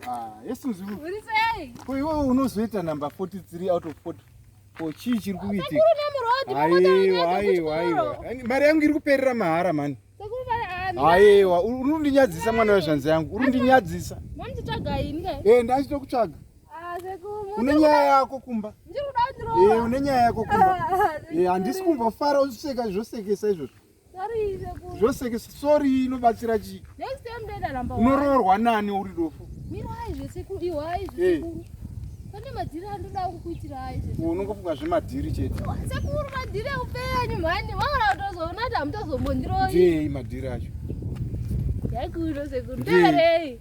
Ah, yesuzi ko iwewe unozoita number 43 out of 44 chii chiri kuitika aiwa aiwa aiwa mari yangu iri kuperera mahara mani aiwa uri kundinyadzisa mwana wezvanzi yangu uri kundinyadzisa ee ndachito kutsvaga une nyaya yako kumba ee une nyaya yako kumba ee handisi kumbofara uchicheka zvosekesa izvozvo zvoseke sori inobatsira chii unoroorwa nani uri dofo pane madhiri andoda kukuitira ayi unongofunga zvemadhiri chete sekuru madhiri eupenyu mhani vaona kutozoona kuti hamutozombondiroi ndiei madhiri acho yaikuino sekuru ndarei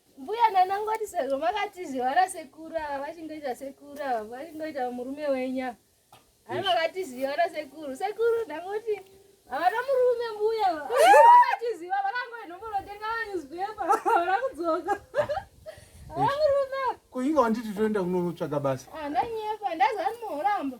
Mbuya nana ngoti sezvo makatizi vana sekuru ava vachingoita sekuru ava vachingoita murume wenya hai makatiziva vana sekuru sekuru ndangoti havana murume mbuya vakatiziva vakangoinombonotenga manewspaper havana kudzoka havana murume kuinga wanditi toenda kunonotsvaga basa ah, ndanyepa ndazani muhoramba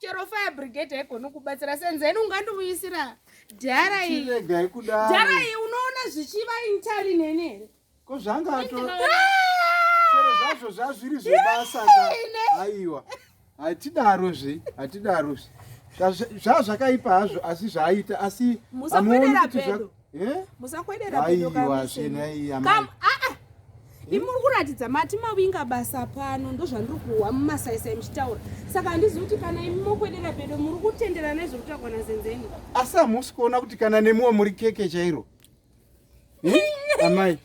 chero fire brigade haigoni kubatsira senzeni ungandiuyisira dhara iregai kudaro dhara iyi unoona zvichiva intari neni here ko zvanga ato chero zvazvo zvazviri zvebasa ka aiwa hatidarozve hatidarozve zvazvakaipa hazvo asi zvaaita asi amuoni kuti Eh? Musakwedera pedo kamise. Kam ah ah. Imi muri kuratidza mati mawinga basa pano ndozvandiri kuwa mumasaisa muchitaura. Saka handizi kuti kana imi mokwedera pedo muri kutenderana nezviri kutaurwa naZenzeni. Asi hamusi kuona kuti kana nemiwo muri keke chairo. Eh? Amai.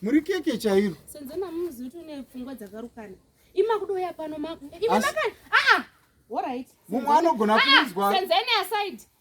Muri keke chairo. Senzeni hamuzi kuti une pfungwa dzakarukana. Imi makudoya pano maku. Imi makana. Ah ah. All right. Mumwe anogona kunzwa. Senzeni aside.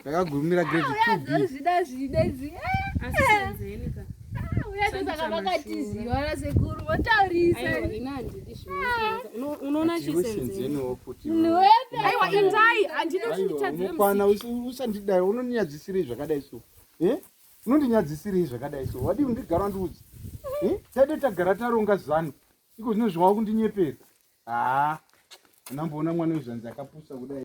ndakagumira grade two b zvida zvida zi asi senzeni ka uyatosaka vakatiziva rasekuru votaurisa unoona chisenzeniwo futi aiwa indai handidi kuti nditadzire mukwana usandidai unonyadzisirei zvakadai so eh unondinyadzisirei zvakadai so wadii undigara ndiudzi eh? taide tagara taronga zano iko zvino zvawakundinyeperwa haa anamboona mwana wezvanzi akapusa kudai